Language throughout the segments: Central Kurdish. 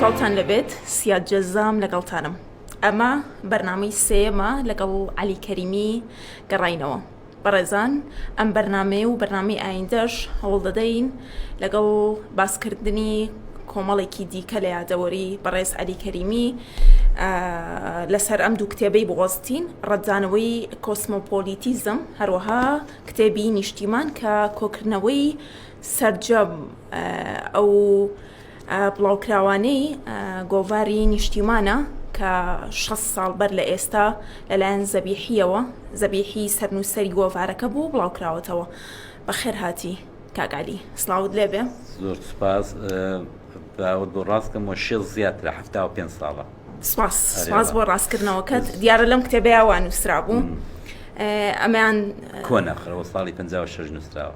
سڵاوتان لەبێت سیاد جەزام لەگەڵتانم ئەمە بەرنامەی سێمە لەگەڵ علی کەریمی گەڕینەوە بەڕێزان ئەم بەرنمەیە و بەرنمەی ئایندەش هەوڵ دەدەین لەگەڵ باسکردنی کۆمەڵێکی دیکە لە یادەوەری بەڕێز علی کەریمی لەسەر ئەم دوو کتێبەی بۆستین ڕەتدانەوەی کۆسمۆپۆلیتیزم هەروەها کتێبی نیشتیمان کە کۆکردنەوەی سەرجەم ئەو بڵاوکراوانەی گۆڤاری نیشتیمانە کە شەست ساڵ بەر لە ئێستا لەلایەن زەبیحیەوە زەبیحی سەرنووسەری گۆڤارەکە بوو بڵاوکراوەتەوە بەخێرهاتی کاگالی سلااوت لێبێ زۆر سپاس باوت بۆ ڕاستکەم و شێ زیاد لە ه پێ ساڵە سپاس سپاس بۆ ڕاستکردنەوەکەت دیارە لەم کتێبەیە وانووسرا بوو ئەمان کۆنەخرەوە ساڵی 56 نووسراوە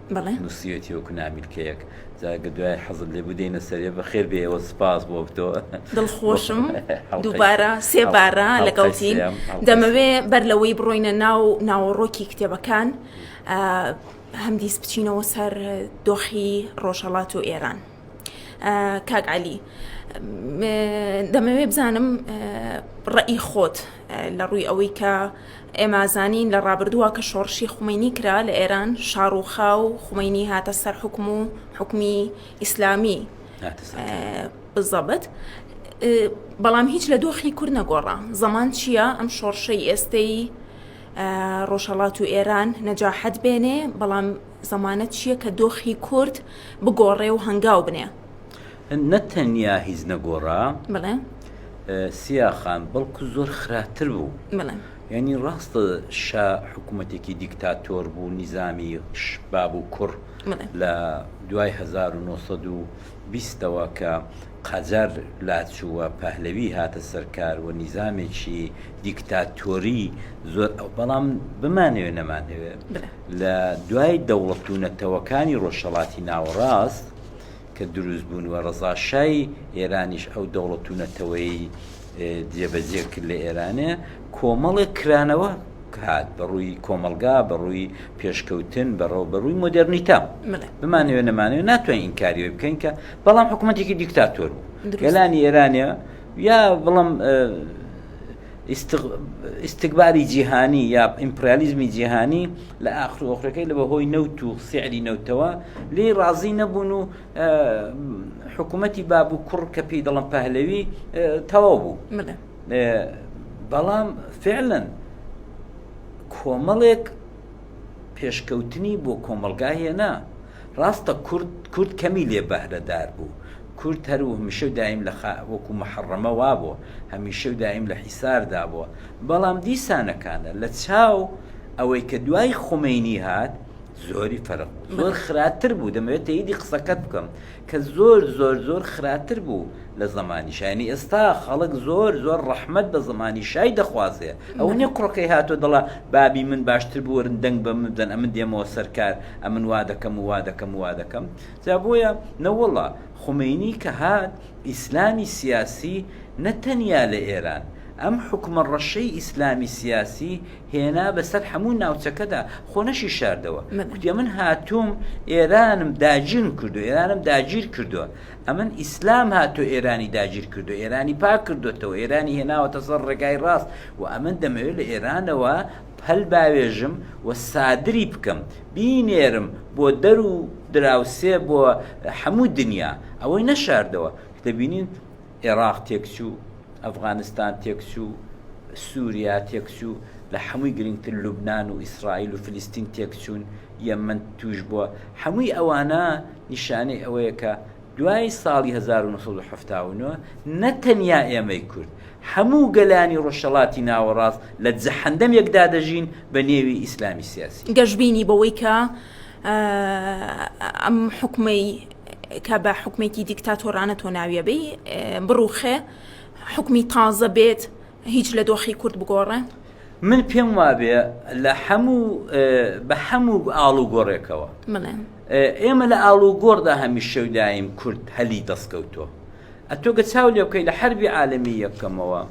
بەڵێ. نوسیوێتی وەکو نامیلکەیەک. جا گەر دوای حەزت لێبوو دێینە سەرێ بەخێر بێیەوە سوپاس بۆ تۆ. دڵخۆشم دووبارە سێ بارە لەگەڵتین دەمەوێ بەر لەوەی بڕۆینە ناو ناوەڕۆکی کتێبەکان هەمدیس بچینەوە سەر دۆخی ڕۆژهەڵات و ئێران. کاک علی دەمەوێت بزانم ڕئی خۆت لە ڕووی ئەوەی کە ئێمازانین لە ڕابردووە کە شۆڕشی خومینی کرا لە ئێران شاڕوخا و خومینی هاتە سەر حکم و حکومی ئیسلامی بزەبت بەڵام هیچ لە دۆخی کورد نەگۆڕە زەمان چییە ئەم شۆڕشەی ئێستەی ڕۆژهڵات و ئێران نەجاحەت بێنێ بەڵام زەمانەت چیە کە دۆخی کورد بگۆڕێ و هەنگاو بنێ؟ نە تەنیا هیچ نەگۆڕا. بەڵێ. سیا خان، بەڵکو زۆر خراتر بوو. بەڵێ. یانی ڕاستە شا حکوومەتێکی دیکتاتۆر بوو، نیزامی باب و کوڕ. بەڵێ. لە دوای هەزار و نۆ سەد و بیستەوە کە قەجەر لاچوو و پەهلەوی هاتە سەر کار و نیزامێکی دیکتاتۆری زۆر ئەو بەڵام بمانەوێ نەمانەوێ لە دوای دەوڵەت و نەتەوەکانی ڕۆژهڵاتی ناوەڕاست کە دروست بوون و ڕزاشای ئێرانیش ئەو دەوڵەت و نەتەوەی جێبەجێ کرد لە ئێرانێ کۆمەڵێک کرانەوە هات بە ڕووی کۆمەلگا بە ڕووی پێشکەوتن بەڕەو بە ڕووی مۆدررنیتا بمانەوێ نەمانەوە ناتوانین ئینکاریەوە بکەین کە بەڵام حکوومەتێکی دیکتاتۆر بوو گەلانی ئێرانە یا بڵم ئیسیکباری جیهانی یا ئیمپریالیزمی جیهانی لە ئاخر ئۆخرەکەی لە بەهۆی نەوت و سعری نەوتەوە لێ ڕازی نەبوون و حکوومەتی باب و کوڕ کە پێی دەڵم پەهلەوی تەواو بوو بەڵام فعلەن کۆمەڵێک پێشکەوتنی بۆ کۆمەلگا هێنا ڕاستە کورد کورد کەمی لێ بەهرەدار بوو کورد هەر و هەمیشە و دایم لە وەکو محڕەمە وا بووە هەمیشە و دایم لە حیساردا بووە بەڵام دیسانەکانە لە چاو ئەوەی کە دوای خمینی هات زۆری فەرق بوو زۆر خراپتر بوو دەمەوێت تەیدی قسەکەت بکەم کە زۆر زۆر زۆر خراپتر بوو لە زمانی شایانی ئێستا خەڵک زۆر زۆر ڕەحمەت بە زمانی شای دەخوازێ ئەو نیە کوڕەکەی هاتۆ دەڵە بابی من باشتر بوەرن دەنگ بە من بدەن ئەمن دێمەوە سەرکار ئەمن وا دەکەم و وا دەکەم وا دەکەم جا بۆیە نەوەڵا خومینی کە هات ئیسلامی سیاسی نەتەنیا لە ئێران ئەم حکومە ڕەشەی ئیسلامی سیاسی هێنا بەسەر هەموو ناوچەکەدا خۆ نەشی شاردەوە کوتێ من هاتووم ئێرانم داگیرم کردو ئێرانم داگیر کردووە ئەمن ئیسلام هاتۆ ئێرانی داگیر کردو ئێرانی پاک کردوێتەوە ئێرانی هێناوەتە سەر ڕێگای ڕاست و ئەمن دەمەوێت لە ئێرانەوە پەل باوێژم و سادری بکەم بینێرم بۆ دەر و دراوسێ بۆ هەموو دنیا ئەوەی نەشاردەوە دەبینین ئێڕاق تێکچوو، ئەفغانستان تێکچوو، سووریا تێکچوو، لە حەمووی گرینگتر لوبنان و ئیسڕائیل و فلیستین تێکچوون، یەمەن تووشبووە، حەمووی ئەوانە نیشانەی ئەوەیە کە دوای ساڵی هەزار و نۆ سەد و حەفتا و نۆ نە تەنیا ئێمەی کورد، حەموو گەلانی ڕۆژهەڵاتی ناوەڕاست لە جەحەندەمێکدا دەژین بە نێوی ئیسلامی سیاسی. گەشبینی بەوەی کە ئەم حکومەی کە بە حکومێکی دیکتاتۆرانە تۆ ناویەبی بڕوخێ حکومی تازە بێت هیچ لە دۆخی کورد بگۆڕێ من پێم وابێ لە هەموو بە هەموو ئاڵ و گۆڕێکەوە ئێمە لە ئاڵ و گۆڕدا هەمی شەودایم کورد هەلی دەستکەوتۆ ئەتۆگە چاو لێ بکەی لە حربی عاالمی یەکەمەوە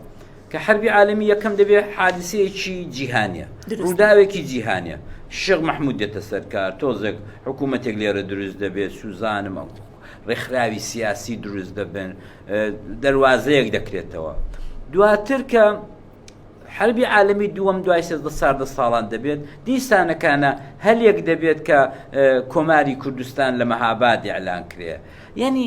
کە حەربی عالەمی یەکەم دەبێ حادسەیەکی جیهانیە ڕوداوێکی جیهانیە شێخ مەحمود دێتە سەرکار تۆزێک حکوومەتێک لێرە دروست دەبێت سوزانم ئەو ڕێکخراوی سیاسی دروست دەبن دەواازەیەک دەکرێتەوە دواتر کە حربی عالمی دووەم دوای سێزدە ساردە ساڵان دەبێت دیسانەکانە هەلێک دەبێت کە کۆماری کوردستان لە مەهاباد ئەلان کرێ یعنی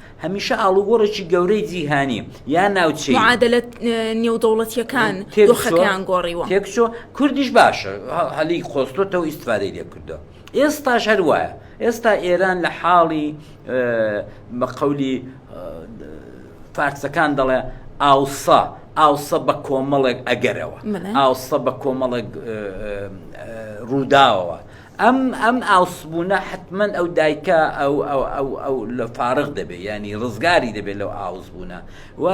هەمیشە ئاڵوگۆڕێکی گەورەی جیهانی یا ناوچەی معادلە نێودەوڵەتیەکان دۆخەکەیان گۆڕیوە تێکچۆ کوردیش باشە هەلی خۆستۆتەوە ئیسفادەی لێ کردو ئێستاش هەر وایە ئێستا ئێران لە حاڵی بە قەولی فارسەکان دەڵێ ئاوسا ئاوسە بە کۆمەڵێک ئەگەرەوە ئاوسە بە کۆمەڵێک ڕووداوەوە ئەم ئەم ئاوسبوونە حەتمەن ئەو دایکە ئەو ئەو ئەو ئەو لە فارغ دەبێ یانی ڕزگاری دەبێت لەو ئاوسبوونە و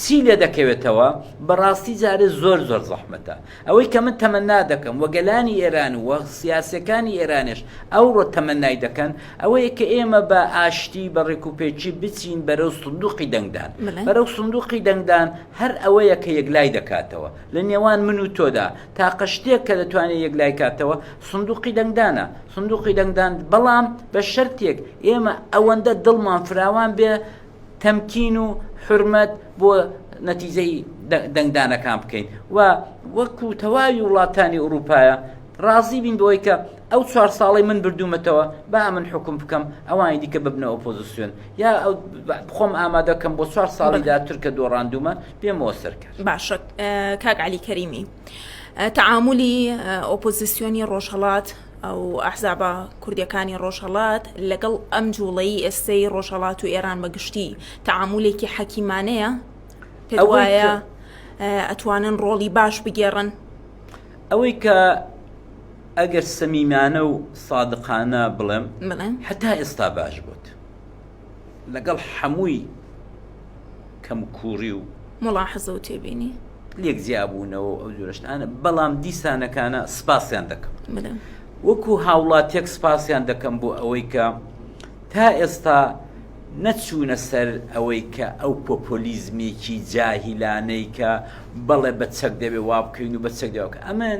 چی لێ دەکەوێتەوە بەڕاستی جارێ زۆر زۆر زەحمەتە ئەوەی کە من تەمەنا دەکەم وە گەلانی ئێران و سیاسەکانی ئێرانێش ئەوڕۆ تەمەنای دەکەن ئەوەیە کە ئێمە بە ئاشتی بە ڕێکوپێکی بچین بەرەو سندوقی دەنگدان بەرەو سندوقی دەنگدان هەر ئەوەیە کە یەکلای دەکاتەوە لە نێوان من و تۆدا تاقە شتێک کە دەتوانێت یەکلایکاتەوە سندوقی دەنگدانە سندوقی دەنگدان بەڵام بە شەرتێک ئێمە ئەوەندە دڵمان فراوان بێ تەمکین و حرمەت بۆ نەتیجەی دەنگدانەکان بکەین و وەکو تەواوی وڵاتانی ئوروپایە ڕازی بین بۆی کە ئەو چوار ساڵی من بردوومەتەوە با من حکم بکەم ئەوانی دیکە ببنە ئۆپۆزیسیۆن یا خۆم ئامادەکەم بۆ چوار ساڵی دااتر کە دۆڕاندومە بێ مۆسر کرد. باشە کاک عەلی کەریمی تەعامولی ئۆپۆزیسیۆنی ڕۆژهەڵات ئەو ئەحزابە کوردەکانی ڕۆژهەڵات لەگەڵ ئەم جوڵەی ئێستەی ڕۆژهەڵات و ئێران بە گشتی تەعامولێکی حەکیمانەیە پێوایە ئەتوانن ڕۆڵی باش بگێڕن ئەوەی کە ئەگەر سەمیمانە و سادقانە بڵێم حتا ئێستا باش بوو لەگەڵ حەمووی کەم کووڕی و. موڵاحەزە و تێبینی. لێک جیابوونەوە و ئەو جۆرە شتانە، بەڵام دیسانەکانە سپاسیان دەکەم. بەلێ. وەکوو هاوڵاتیەک سپاسیان دەکەم بۆ ئەوەی کە تا ئێستا نەچوونە سەر ئەوەی کە ئەو پۆپۆلیزمێکی جاهیلانەی کە بەڵێ بە چەک دەبێ وا بکەین و بە چەک دەبێ وا بکەین. ئەمن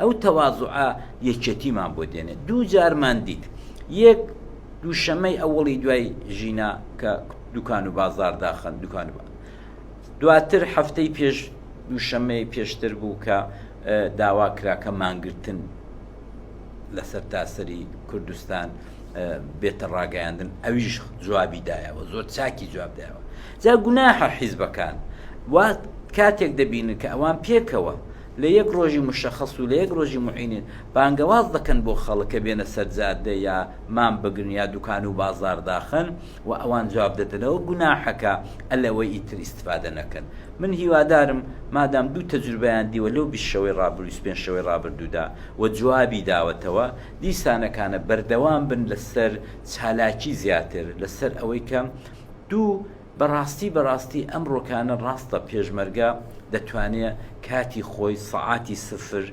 ئەو تەوازوعە یەکێتیمان بۆ دێنێ دوو جارمان دیت یەک دووشەمەی ئەوڵی دوای ژینا کە دوکان و بازار داخن دوکان و دواتر هەفتەی پێش دووشەمەی پێشتر بوو کە داوا کراکە مانگرتن لەسەر تاسەری کوردستان بێتە ڕاگەیاندن ئەویش جوابی دایەوە زۆر چاکی جواب دایەوە جا گوناحە حیزبەکان وا کاتێک دەبینن کە ئەوان پێکەوە لە یەک ڕۆژی مشەخەس و لە یەک ڕۆژی موعینن بانگەواز دەکەن بۆ خەڵک کە بێنە سەر جادە یا مام بگرن یا دوکان و بازار داخەن و ئەوان جواب دەدەنەوە گوناحەکە الەوەی ئیتر ئیستفادە نەکەن من هیوادارم مادام دوو تەجروبەیان دیوە لەو بیست شەوەی ڕابروو بیست پێنج شەوەی ڕابردوودا و جوابی داوەتەوە دیسانەکانە بەردەوام بن لەسەر چالاکی زیاتر لەسەر ئەوەی کە دوو بەڕاستی بەڕاستی ئەم ڕۆکانە ڕاستە پێشمەرگە دەتوانێ کاتی خۆی سەعاتی سفر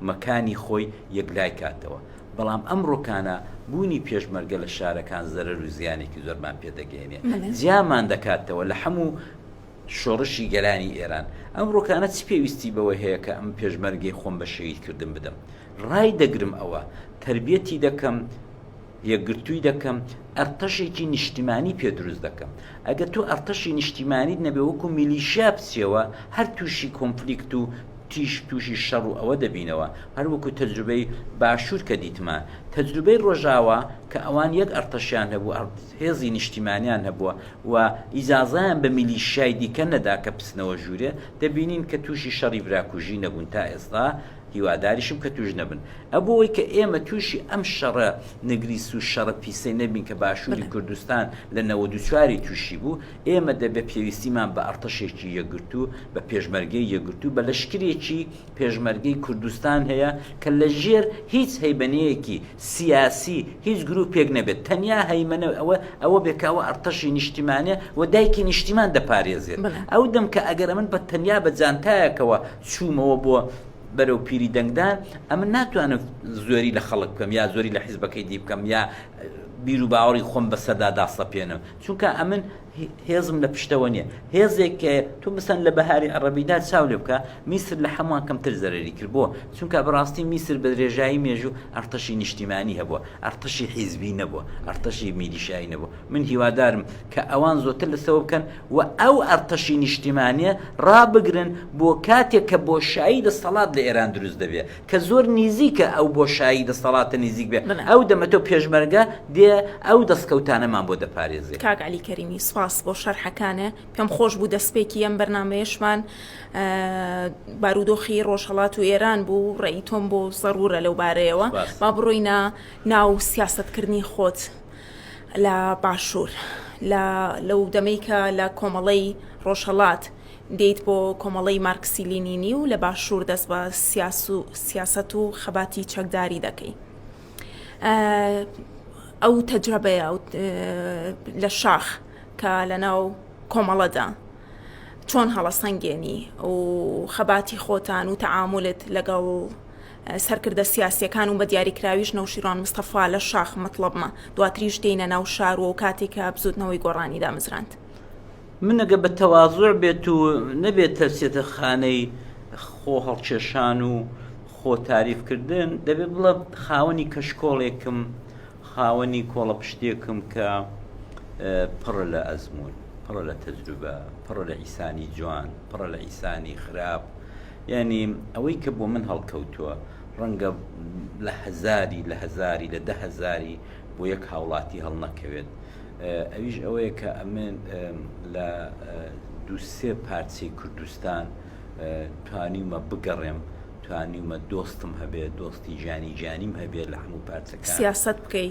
مەکانی خۆی یەکلای کاتەوە بەڵام ئەم ڕۆکانە بوونی پێشمەرگە لە شارەکان زەرەر و زیانێکی زۆرمان پێ دەگەیەنێ جیامان دەکاتەوە لە حەموو شۆڕشی گەلانی ئێران ئەم ڕۆکانە چ پێویستی بەوە هەیە کە ئەم پێشمەرگەی خۆم بە شەهید کردن بدەم ڕای دەگرم ئەوە تەربیەتی دەکەم یەکگرتووی دەکەم، ئەرتەشێکی نیشتیمانی پێ دروست دەکەم. ئەگەر تۆ ئەرتەشی نیشتیمانیت نەبێ وەکو میلیشیا بچیەوە هەر تووشی کۆنفلیکت و تیش تووشی شەڕ و ئەوە دەبینەوە هەر وەکو تەجروبەی باشوور کە دیتمان تەجروبەی ڕۆژاوا کە ئەوان یەک ئەرتەشیان هەبوو ئەرت هێزی نیشتیمانیان هەبووە و ئیجازەیان بە میلیشیای دیکە نەدا کە بچنەوە ژوورێ دەبینین کە تووشی شەڕی براکوژی نەبوون تا ئێستا هیواداریشم کە توش نەبن ئەبۆوەی کە ئێمە توشی ئەم شەڕە نگریس و شەڕە پیسەی نەبین کە باشوری کوردستان لە نەوەد و چوار ی توشی بوو ئێمە دەبێ پێویستیمان بە ئەڕتەشێکی یەکگرتوو بە پێشمەرگەی یەکگرتوو بە لەشکرێکی پێشمەرگەی کوردستان هەیە کە لە ژێر هیچ هەیمەنەیەکی سیاسی هیچ گروپێک نەبێت تەنیا هەیمەنە ئەوە ئەوە بێ کە ئەوە ئەڕتەشی نیشتیمانە و دایکی نیشتیمان دەپارێزێت ئەو دەم کە ئەگەر ئەمن بە تەنیا بە جانتایەکەوە چوومەوە بۆ بەرەو پیری دەنگدان ئەمە ناتوانم زۆری لە خەڵک بکەم یا زۆری لە حیزبەکەی دی بکەم یا بیر و باوەڕی خۆم بەسەردا داسەپێنم چونکە ئەمن هێزم لە پشتەوە نییە هێزێک کە تو بسەن لە بەهاری عڕبیدا چاو لێ بکە میسر لە هەمووان کەمتر زەرری کرد بۆ چونکە بەڕاستی میسر بە درێژایی مێژوو ئەرتەشی نیشتیمانی هەبووە ئەرتەشی حیزبی نەبووە ئەرتەشی میلیشایی نەبوو من هیوادارم کە ئەوان زۆتر لەسەوە بکەن و ئەو ئەرتەشی نیشتیمانیە ڕابگرن بۆ کاتێک کە بۆشایی دەستەڵات لە ئێران دروست دەبێ کە زۆر نیزیکە ئەو بۆشایی دەستەڵاتە نیزیک بێ ئەو دەمەتە و پێشمەرگە دێ ئەو دەستکەوتانەمان بۆ دەپارێزێ. کاک عەلی کەریمی سپاس بۆ شەرحەکانێ پێم خۆش بوو دەسپێکی ئەم بەرنامەیەشمان بارودۆخی ڕۆژهەڵات و ئێران بوو ڕێی تۆم بۆ زەرورە لەو بارەیەوە با بڕۆینە ناو سیاستکردنی خۆت لە باشوور لە لەو دەمەی کە لە کۆمەڵەی ڕۆژهەڵات دێیت بۆ کۆمەڵەی مارکسی لینینی و لە باشوور دەست بە سیاسەت و خەباتی چەکداری دەکەی ئەو تەجرەبەیە لە شاخ کە لەناو کۆمەڵەدا چۆن هەڵەسەنگێنی و خەباتی خۆتان و تەعاملت لەگەڵ سەرکردە سیاسیەکان و بە دیاریکراویش نەوشیروان مستەفا لە شاخ مەتڵەبمە، دواتریش دێینە ناو شارو و کاتی کە بزوتنەوەی گۆڕانی دامزراند. من ئەگەر بە تەوازوع بێت و نەبێت تەرسێتە خانەی خۆ هەڵکێشان و خۆ تاریف کردن، دەبێت بڵێم خاوەنی کەشکۆڵێکم، خاوەنی کۆڵەپشتێکم کە پڕە لە ئەزموون، پڕە لە تەجروبە، پڕە لە ئیسانی جوان، پڕە لە ئیسانی خراپ، یانی ئەوەی کە بۆ من هەڵکەوتووە ڕەنگە لە هەزاری لە هەزاری لە دە هەزاری بۆ یەک هاوڵاتی هەڵنەکەوێت ئەویش ئەوەیە کە ئەمن لە دووسێ پارچەی کوردستان توانیمە بگەڕێم توانیمە دۆستم هەبێت دۆستی جانی جانیم هەبێت لە هەموو پارچەکە سیاست بکەی.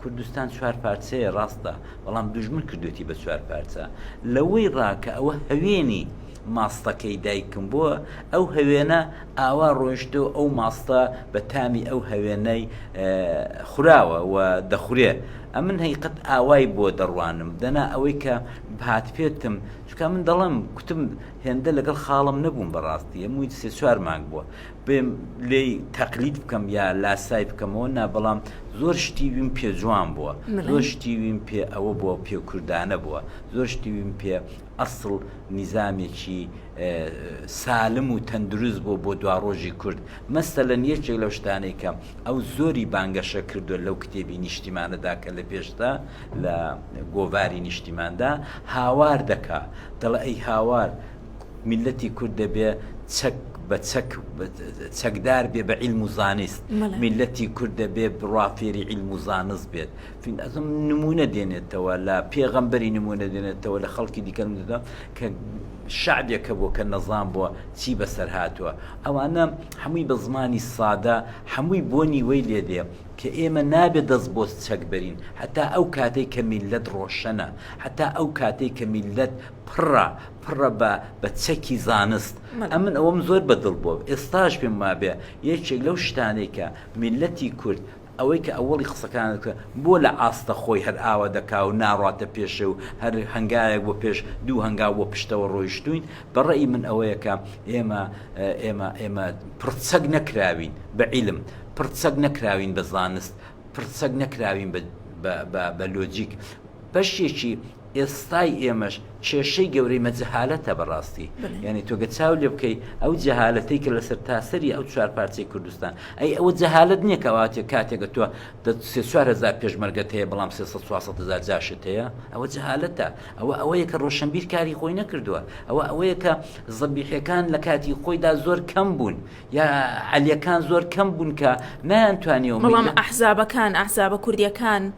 کوردستان چوار پارچەیە ڕاستە، بەڵام دوژمن کردوێتی بە چوار پارچە. لەوەی ڕا کە ئەوە هەوێنی ماستەکەی دایکم بووە، ئەو هەوێنە ئاوا ڕۆیشتە و ئەو ماستە بە تامی ئەو هەوێنەی خوراوە و دەخورێ. ئەمن هەیقەت ئاوای بۆ دەڕوانم، دەنا ئەوەی کە بهاتپێتم، چونکە ئەمن دەڵێم کوتم هێندە لەگەڵ خاڵم نەبووم بە ڕاستی، ئەمووی سێ چوار مانگ بووە، بێم لێی تەقلید بکەم یا لاسای بکەمەوە نا بەڵام زۆر شتی ویم پێ جوان بووە زۆر شتی ویم پێ ئەوە بووە پێ کوردانە بووە زۆر شتی ویم پێ ئەسڵ نیزامێکی سالم و تەندروست بوو بۆ دواڕۆژی کورد مەسە لە نیەکێک لەو شتانەی کەم ئەو زۆری بانگەشە کردووە لەو کتێبی نیشتیمانەدا کە لە پێشدا لە گۆڤاری نیشتیماندا هاوار دەکا دەڵ ئەی هاوار میللەتی کورد دەبێ چەک بە چەک چەکدار بێ بە عیلم و زانست میللەتی کورد دەبێ بڕوا فێری عیلم و زانست بێت ئەزم نمونە دێنێتەوە لە پێغەمبەری نمونە دێنێتەوە لە خەڵکی دیکە نمونە کە شعبێکە بۆ کە نەزان بووە چی بەسەر هاتووە ئەوانە هەمووی بە زمانی سادە هەمووی بۆنی وەی لێ دێ کە ئێمە نابێت دەست بۆ چەک بەرین هەتا ئەو کاتێک کە میللەت ڕۆشەنە هەتا ئەو کاتێک کە میللەت پڕە پڕە بە بە چەکی زانست ئەمن ئەوەم زۆر بە دڵ بۆ ئێستاش پێم وابێ یەکێک لەو شتانەی کە میللەتی کورد ئەوەی کە ئەوەڵی قسەکانت کە بۆ لە ئاستە خۆی هەر ئاوا دەکا و ناڕاتە پێشێ و هەر هەنگاوێک بۆ پێش دوو هەنگاو بۆ پشتەوە ڕۆیشتووین بە ڕێی من ئەوەیە کە ئێمە ئێمە ئێمە پڕچەک نەکراوین بە عیلم پڕچەک نەکراوین بە زانست پڕچەک نەکراوین بە بە لۆجیک بەشێکی ئێستای ئێمەش کێشەی گەورەی مە جەهالەتە بەڕاستی یانی تۆگە چاو لێ بکەی ئەو جەهالەتەی کە لەسەر تاسەری ئەو چوار پارچەی کوردستان ئەی ئەوە جەهالت نییە کەواتێ کاتێکە تۆ سێچارهزار پێشمەرگەت هەیە بەڵام سێ چوارهزار جاشت هەیە ئەوە جەهالەتە ئەوە ئەوەیە کە ڕۆشنبیر کاری خۆی نەکردووە ئەوە ئەوەیە کە زەبیحەکان لە کاتی خۆیدا زۆر کەم بوون یا عەلیەکان زۆر کەم بوون کە نەیان توانیەوە بەڵام ئەحزابەکان ئەحزابە کوردیەکان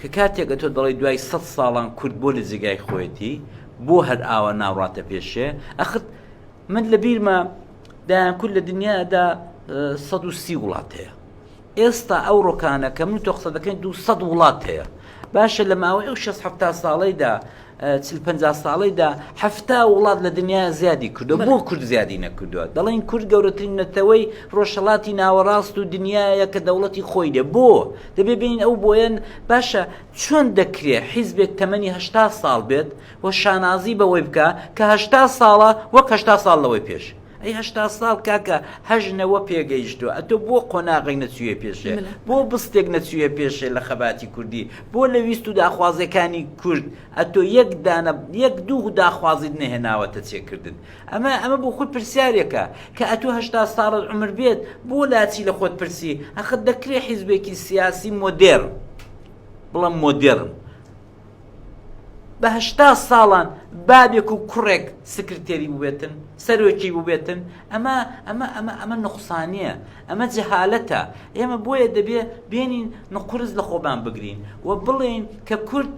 کە کاتێک ئەتۆ دەڵێی دوای سەد ساڵان کورد بۆ لە جێگای خۆیەتی بۆ هەر ئاوا ناڕاتە پێشێ ئەخت من لە بیرمە دایان کورد لە دنیادا سەد و سی وڵات هەیە ئێستا ئەو ڕۆکانە کە من تۆ قسە دەکەین دو سەد وڵات هەیە باشە لە ماوەی ئەو شەست هەفتا ساڵەیدا چل پەنجا ساڵیدا حەفتا وڵات لە دنیا زیادی کردو بۆ کورد زیادی نەکردووە دەڵێن کورد گەورەترین نەتەوەی ڕۆژهڵاتی ناوەڕاست و دنیاە کە دەوڵەتی خۆی دێ بۆ دەبێ بین ئەو بۆیەن باشە چۆن دەکرێ حیزبێک تەمەنی هشتا ساڵ بێت و شانازی بەوەی بکە کە هشتا ساڵە وەک هشتا ساڵ لەوەی پێش ئەی هەشتا ساڵ کاکە هەشت نەوە پێگەیشتوە ئەتۆ بۆ قۆناغێک نەچویە پێشێ بۆ بستێک نەچویە پێشێ لە خەباتی کوردی بۆ لە ویست و داخوازێکانی کورد ئەتۆ یەک دانە یەک دوو داخوازیت نەهێناوەتە چێکردن ئەمە ئەمە بۆ خۆی پرسیارێکە کە ئەتۆ هەشتا ساڵت عومر بێت بۆ لاچی لە خۆت پرسی ئەخە دەکرێ حیزبێکی سیاسی مۆدێڕن بڵێم مۆدێڕن بە هەشتا ساڵان بابێک و کوڕێک سکرتێری بووێتن سەرۆکی بووێتن ئەمە ئەمە ئەمە ئەمە نقصانە ئەمە جەهالەتە ئێمە بۆیە دەبێ بێنین نقرز لە خۆبان بگرین و بڵێین کە کورد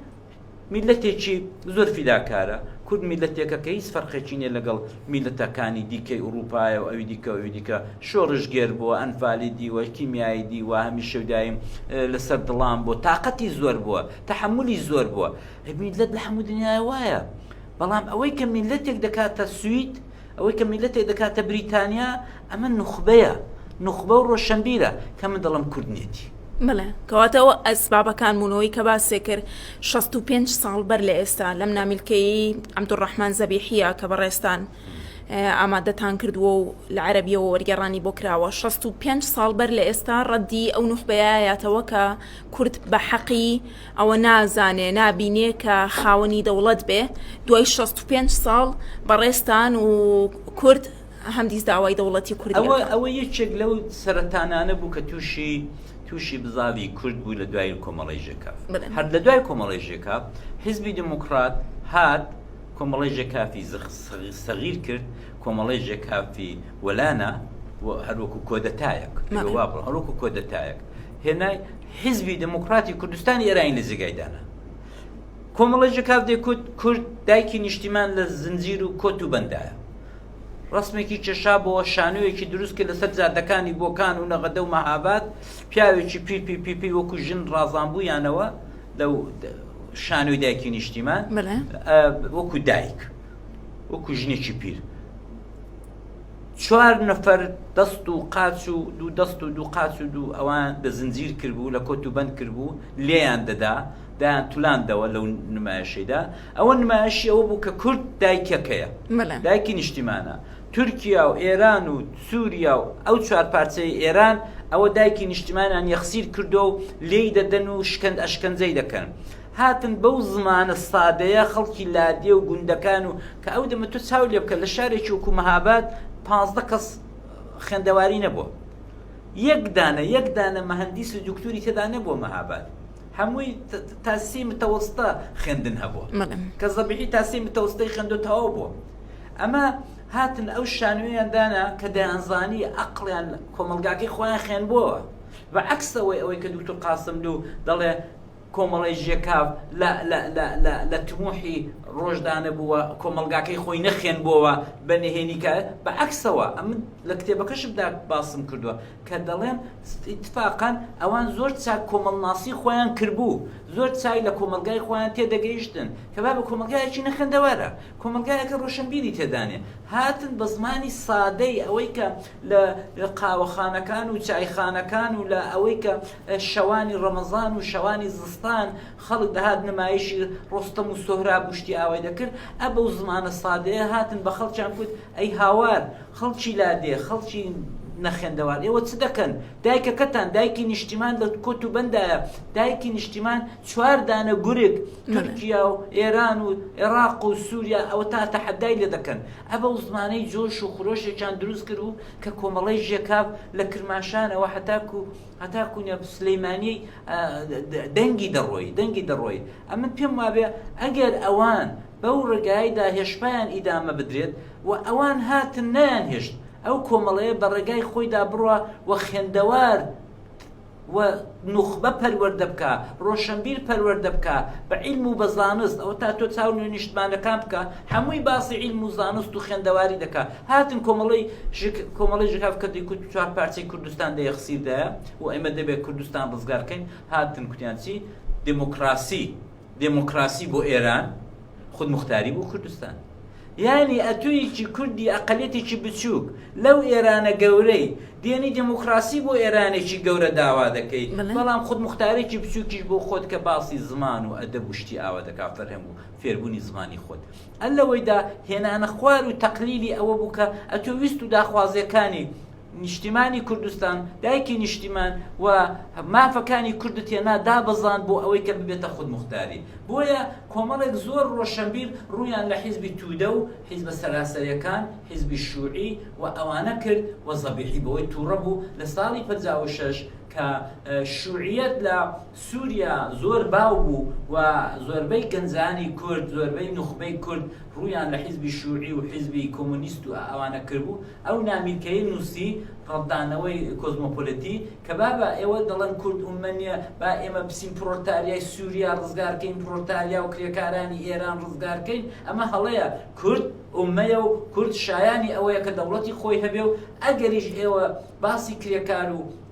میلەتێکی زۆر فیداکارە کورد میلەتێکە کە هیچ فەرقێکی نیە لەگەڵ میلەتەکانی دیکەی ئوروپایە و ئەوی دیکە ئەوی دیکە شۆڕژگێر بۆ ئەنفالی دیوە کیمیایی دیوە هەمیشەدایم لەسەر دڵان بۆ تااقەتی زۆر بووە تەحەمولی زۆر بووە. ئەی میللەت لە هەموو دنیایە وایە. بەڵام ئەوەی کە میللەتێک دەکاتە سوید، ئەوەی کە میللەتێک دەکاتە بریتانیا، ئەمە نوخبەیە، نوخبە و ڕۆشەنبیرە، کە من دەڵێم کورد نیەتی. بەڵێ، کەواتە ئەوە ئەسبابەکان بوون. ئەوەی کە باسێ کرد شەست و پێنج ساڵ بەر لە ئێستا، لەم نامیلکەیەی عەبدولڕەحمان زەبیحییە کە بەڕێزتان ئامادەتان کردووە و لە عەرەبییەوە وەرگێڕانی بۆ کراوە، شەست و پێنج ساڵ بەر لە ئێستا ڕەدی ئەو نوخبەیە یاتەوە کە، کورد بە حەقی ئەوە نازانێ نابینێ کە خاوەنی دەوڵەت بێ دوای 65 ساڵ بەڕێزتان و کورد هەمدیس داوای دەوڵەتی کورد ئەوە ئەوە یەکێک لەو سەرەتانانە بوو کە تووشی تووشی بزاوی کورد بوو لە دوای کۆمەڵی ژێکاف هەر لە دوای کۆمەڵی ژێکاف حزبی دموکرات هات کۆمەڵی ژێکافی سەغیر کرد کۆمەڵی ژێکافی وەلانە هەروەکو کۆدەتایەک هەروەکو کۆدەتایەک هێنای حیزبی دموکراتی کوردستانی ئێرانی لە جێگای دانا کۆمەڵی ژکاف دەکوت کورد دایکی نیشتیمان لە زنجیر و کۆت و بەندایە ڕسمێکی کێشا بۆ شانویەکی دروست کرد لەسەر جادەکانی بۆکان و نەغەدە و مەهاباد پیاوێکی پی پی پی پی وەکو ژن ڕازانبوویانەوە لە شانوی دایکی نیشتیمان وەکو دایک وەکو ژنێکی پیر چوار نەفەر دەست و قاچ و دوو دەست و دوو قاچ و دوو ئەوان بە زنجیر کربوو لە کۆت و بەند کربوو لێیان دەدا دایان تولاندەوە لەو نمایشەیدا ئەوە نمایشی ئەوە بوو کە کورد دایکەکەیە بەڵێ دایکی نیشتیمانە تورکیا و ئێران و سووریا و ئەو چوار پارچەی ئێران ئەوە دایکی نیشتیمانیان یەخسیر کردو و لێی دەدەن و شکەند ئەشکەنجەی دەکەن هاتن بەو زمانە سادەیە خەڵکی لادێ و گوندەکان و کە ئەو دەمە تۆ چاو لێ بکە لە شارێکی وەکو مەهاباد پازدە کەس خوێندەواری نەبووە یەک دانە یەک دانە مەهندیس و دکتوری تێدا نەبووە مەهاباد هەمووی تاسی متەوەستە خوێندن هەبووە کە زەبیعی تاسی متەوەستەی خوێندو تەواو بووە ئەمە هاتن ئەو شانوێیان دانا کە دەیانزانی ئەقلیان کۆمەلگاکەی خۆیان خوێن بووەوە و عکسەوەی ئەوەی کە دوکتور قاسملو دەڵێ کۆمەڵەی ژێکاڤ لە لە لە لە لە تموحی ڕۆژدانە بووە کۆمەڵگاکەی خۆی نەخێنبۆوە بە نهێنی کە بە عەکسەوە ئەمن لە کتێبەکەشمدا باسم کردووە کە دەڵێن اتفاقا ئەوان زۆر چاک کۆمەڵناسی خۆیان کردبوو زۆر چای لە کۆمەلگای خۆیان تێدەگەیشتن کە با بە کۆمەلگایەکی نەخێندەوارە کۆمەلگایەکە ڕۆشنبیری تێدانێ هاتن بە زمانی سادەی ئەوەی کە لە قاوەخانەکان و چایخانەکان و لە ئەوەی کە شەوانی ڕەمەزان و شەوانی زستان خەڵک دەهات نمایشی ڕۆستەم و سۆهراب و شتی ئاوای دەکرد ئە بەو زمانە سادەیە هاتن بە خەڵکیان کوت ئەی هاوار خەڵکی لادێ خەڵکی نەخێندەوار ئێوە چ دەکەن دایکەکەتان دایکی نیشتیمان لە کۆت و بەندایە دایکی نیشتیمان چوار دانە گورگ تورکیا و ئێران و عێراق و سووریا ئەوە تا تەحەدای لێ دەکەن ئەبە و زمانەی جۆش و خرۆشێکیان دروست کردبوو کە کۆمەڵەی ژێکاف لە کرماشانەوە هەتاکوو هەتاکوو نە سلیمانیی دەنگی دەڕۆی دەنگی دەڕۆی ئەمن پێم وابێ ئەگەر ئەوان بەو ڕێگایەدا هێشپایان ئیدامە بدرێت و ئەوان هاتن نەیان هێشت ئەو کۆمەڵەیە بە ڕێگای خۆیدا بڕوا و خێندەوار و نوخبە پەروەردە بکە ڕۆشەنبیر پەروەردە بکە بە عیلم و بە زانست ئەوە تا تۆ چاو نوێ نیشتمانەکان بکە هەمووی باسی عیلم و زانست و خوێندەواری دەکا هاتن کۆمەڵی ژک کۆمەڵی ژکاف کە دیکوت چوار پارچەی کوردستان دە یەخسیردایە و ئێمە دەبێت کوردستان ڕزگارکەین هاتن کوتیان چی دموکراسی دێمۆکڕاسی بۆ ئێران، خودموختاری بۆ کوردستان. یانی ئەتۆیەکی کوردی ئەقەلیەتێکی بچووک لەو ئێرانە گەورەی دێنی دێمۆکڕاسی بۆ ئێرانێکی گەورە داوا دەکەی، بەڵام خودموختارێکی بچووکیش بۆ خۆت کە باسی زمان و ئەدەب و شتی ئاوا دەکا فەرهەنگ و فێربوونی زمانی خۆت. ئەلەوەیدا هێنانە خوار و تەقلیلی ئەوە بوو کە ئەتۆ ویست و داخوازیەکانی نیشتیمانی کوردستان، دایکی نیشتیمان، و مافەکانی کوردت هێنا دابەزاند بۆ ئەوەی کە ببێتە خودموختاری. بۆیە کۆمەڵێک زۆر ڕۆشەنبیر ڕوویان لە حیزبی تودە و حیزبە سەراسەرێکان، حیزبی شوعی، و ئەوانە کرد و زەبیحی بەوەی تووڕە بوو لە ساڵی پەنجا و شەش کە شوعیەت لە سوریا زۆر باو بوو و زۆربەی گەنجانی کورد، زۆربەی نوخبەی کورد ڕوویان لە حیزبی شوعی و حیزبی کۆمۆنیست و ئەوانە کردبوو، ئەو نامیلکەی نووسی ڕەتدانەوەی کۆزمۆپۆلتی کە بابە ئێوە دەڵێن کورد ئوممە نییە با ئێمە بچین پڕۆلتاریای سووریا ڕزگار کەین پڕۆلتاریا و کرێکارانی ئێران ڕزگار کەین ئەمە هەڵەیە کورد ئوممەیە و کورد شایانی ئەوەیە کە دەوڵەتی خۆی هەبێ و ئەگەریش ئێوە باسی کرێکار و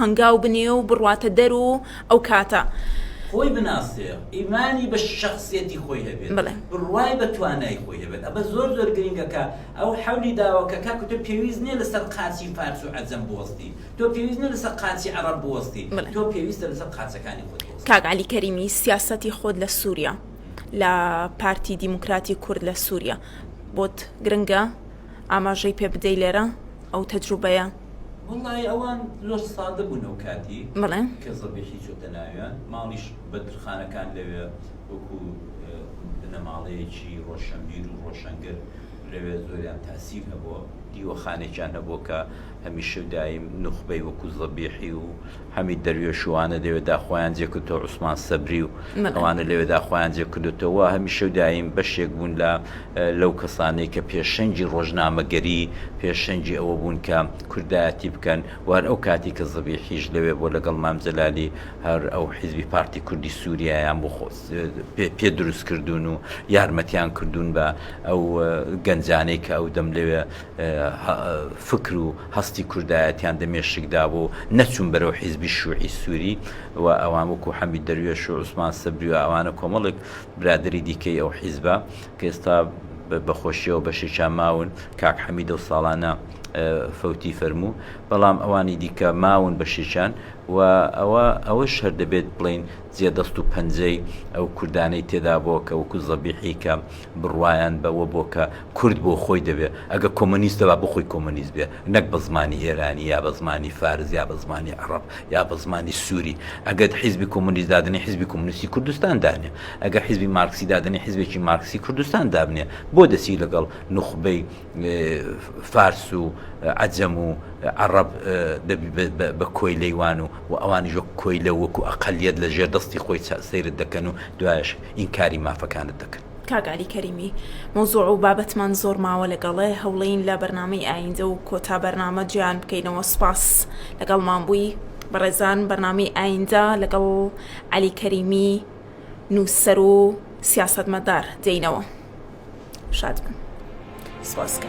هەنگاو بنێ و بڕواتە دەر و ئەو کاتە. خۆی بناسێ، ئیمانی بە شەخسیەتی خۆی هەبێت، بڕوای بە توانای خۆی هەبێت، ئەمە زۆر زۆر گرینگە کە ئەو حەولی داوە کە کاکە تۆ پێویست نیە لەسەر قاچی فارس و عەجەم بوەستی، تۆ پێویست نیە لەسەر قاچی عەڕەب بوەستی، تۆ پێویستە لەسەر قاچەکانی خۆت بوەستی. کاک عەلی کەریمی سیاسەتی خۆت لە سوریا لە پارتی دیموکراتی کورد لە سوریا بۆت گرنگە؟ ئاماژەی پێ بدەی لێرە ئەو تەجروبەیە. وەڵای ئەوان زۆر سادە بوون ئەو کاتی بەڵێ کە زەبیحی چۆتە ناویان ماڵیش بەندرخانەکان لەوێ وەکو بنەماڵەیەکی ڕۆشەنبیر و ڕۆشەنگر لەوێ زۆریان تاسیر هەبووە دیوەخانێکیان هەبووە کە هەمیشە و دایم نوخبەی وەکو زەبیحی و حەمید دەروێش و وانە لەوێدا خۆیان جێکردەوە، عوسمان سەبری و ئەوانە لەوێدا خۆیان جێکردۆتەوە، هەمیشە و دایم بەشێک بوون لە لەو کەسانەی کە پێشەنگی ڕۆژنامەگەری، پێشەنگی ئەوە بوون کە کوردایەتی بکەن و هەر ئەو کاتی کە زەبیحیش لەوێ بووە لەگەڵ مام جەلالی هەر ئەو حیزبی پارتی کوردی سوریایان بۆ خۆ پێ دروست کردوون و یارمەتیان کردوون بە ئەو گەنجانەی کە ئەو دەم لەوێ فکر و هەستی کوردایەتیان دە مێشک دابوو و نەچوون بەرەو حیزبی شوعی سوری و ئەوان وەکو حەمید دەروێش و عوسمان سەبری و ئەوانە کۆمەڵێک برادەری دیکەی ئەو حیزبە کە ئێستا بە خۆشیەوە بەشێکیان ماون کاک حەمید و ساڵانە فەوتی فەرموو بەڵام ئەوانی دیکە ماون بەشێکیان و ئەوە ئەوە شەر دەبێت بڵین جێ دەست و پەنجەی ئەو کوردانەی تێدا بۆ کە وەکو زەبیحی کە بڕوایان بەوە بووە کە کورد بۆ خۆی دەبێ، ئەگەر کۆمۆنیستە با بۆ خۆی کۆمۆنیست بێ، نەک بە زمانی ئێرانی یا بە زمانی فارس یا بە زمانی عەڕەب یا بە زمانی سووری. ئەگەر حیزبی کۆمۆنیست دادەنێ حیزبی کۆمۆنیستی کوردستان دانێ. ئەگەر حیزبی مارکسی دادەنێ حیزبێکی مارکسی کوردستان دابنێ. بۆ دەچی لەگەڵ نوخبەی. فارس و عەجەم و عەڕەب بە کۆیلەی وان و و ئەوانیش وەکو کۆیلە و وەکو ئەقەلیەت لە ژێر دەستی خۆی سەیرت دەکەن و دوایەش ئینکاری مافەکانت دەکەن. کاک عەلی کەریمی مەوزوع و بابەتمان زۆر ماوە لەگەڵێ هەوڵێین لە بەرنامەی ئایندە و کۆتا بەرنامە جێیان بکەینەوە سوپاس لەگەڵمان بووی بەڕێزان بەرنامەی ئایندە لەگەڵ عەلی کەریمی نووسەر و سیاسەتمەدار دێینەوە. شاد بن سپاس کە.